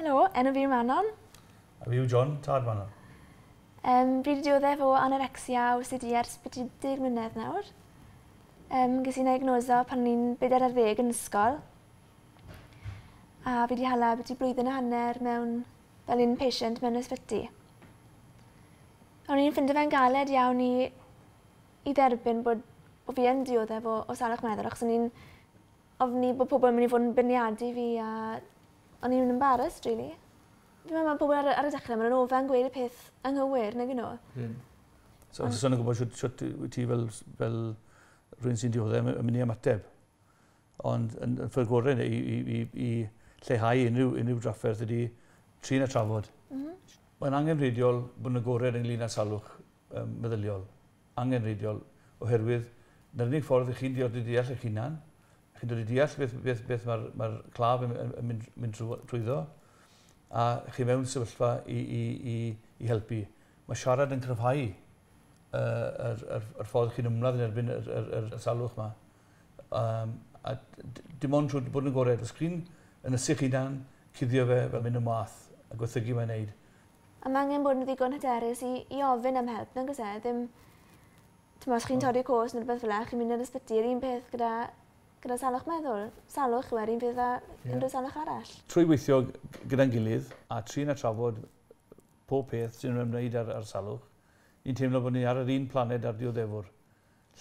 Helo, enw fi yw Manon. A fi yw John, tad Manon. Um, fi wedi dioddef o anorexia a OCD ers beth i deg mlynedd nawr. Um, ges i'n diagnoso pan o'n i'n beder ar ddeg yn ysgol. A fi wedi hala beth i blwyddyn a hanner mewn fel un patient mewn ysbyty. O'n i'n ffindio fe'n galed iawn i i dderbyn bod bo' fi yn dioddef o o salwch meddwl achos o'n i'n ofni bo' pobol yn myn' i fod yn beirniadu fi a o'n i'n embarrased rili. Fi'n me'wl ma' pobol ar y ar y dechre ma' nw'n ofa'n gweud y peth anghywir nag 'yn n'w. Ie. So so o'n i'n gwbod shwt shwt yy wyt ti fel s- fel rywun sy'n diodde' a my- a myn' i ymateb. ond yn, yn ffyrdd gorau i, i, i, i lleihau unrhyw, unrhyw drafferth ydy trin a trafod. Mm -hmm. Mae'n angenrheidiol bod yn agored ynglyn â salwch um, meddyliol. Angenrheidiol, oherwydd na'r unig ffordd i chi'n dioddi deall eich hunan, chi'n dod i deall beth, beth, beth mae'r mae claf yn, yn, yn mynd, mynd trwyddo, a chi mewn sefyllfa i, i, i, i helpu. Mae siarad yn cryfhau yr, yr, yr ffordd chi'n ymladd yn erbyn y, y, y, y salwch yma. Um, a dim ond trwy bod yn gorau ar y sgrin, yn y sych hunan, cuddio fe fel mynd y math, a gwerthygu mae'n neud. A mae angen bod yn ddigon hyderus i, i ofyn am help, nag oes e? Ddim, ti'n os chi'n torri cos neu rhywbeth fel e, chi'n mynd i'r ysbyty, yr un peth gyda, gyda salwch meddwl. Salwch yw e'r un peth â yeah. unrhyw salwch arall. Trwy weithio gyda'n gilydd a trin a trafod pob peth sy'n ymwneud â'r, ar salwch, ni'n teimlo bod ni ar yr un planed ar dioddefwr.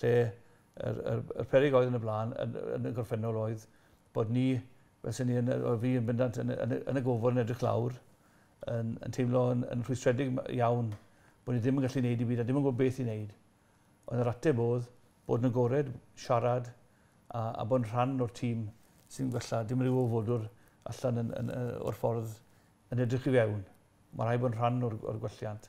lle yr, yr, yr perig oedd yn y blaen, yn, yn y gorffennol oedd bod ni, fel sy'n ni, yn, oedd fi yn bendant yn, yn, yn y gofod yn edrych lawr, yn, yn teimlo yn, yn rhwystredig iawn bod ni ddim yn gallu gwneud i byd a ddim yn gwybod beth i wneud. Ond yr ateb oedd bod yn agored, siarad a, a bod yn rhan o'r tîm sy'n gwella. Dim rhyw ofodwr allan yn, yn, yn, o'r ffordd yn edrych i fewn. Mae rhaid bod yn rhan o'r, or gwelliant.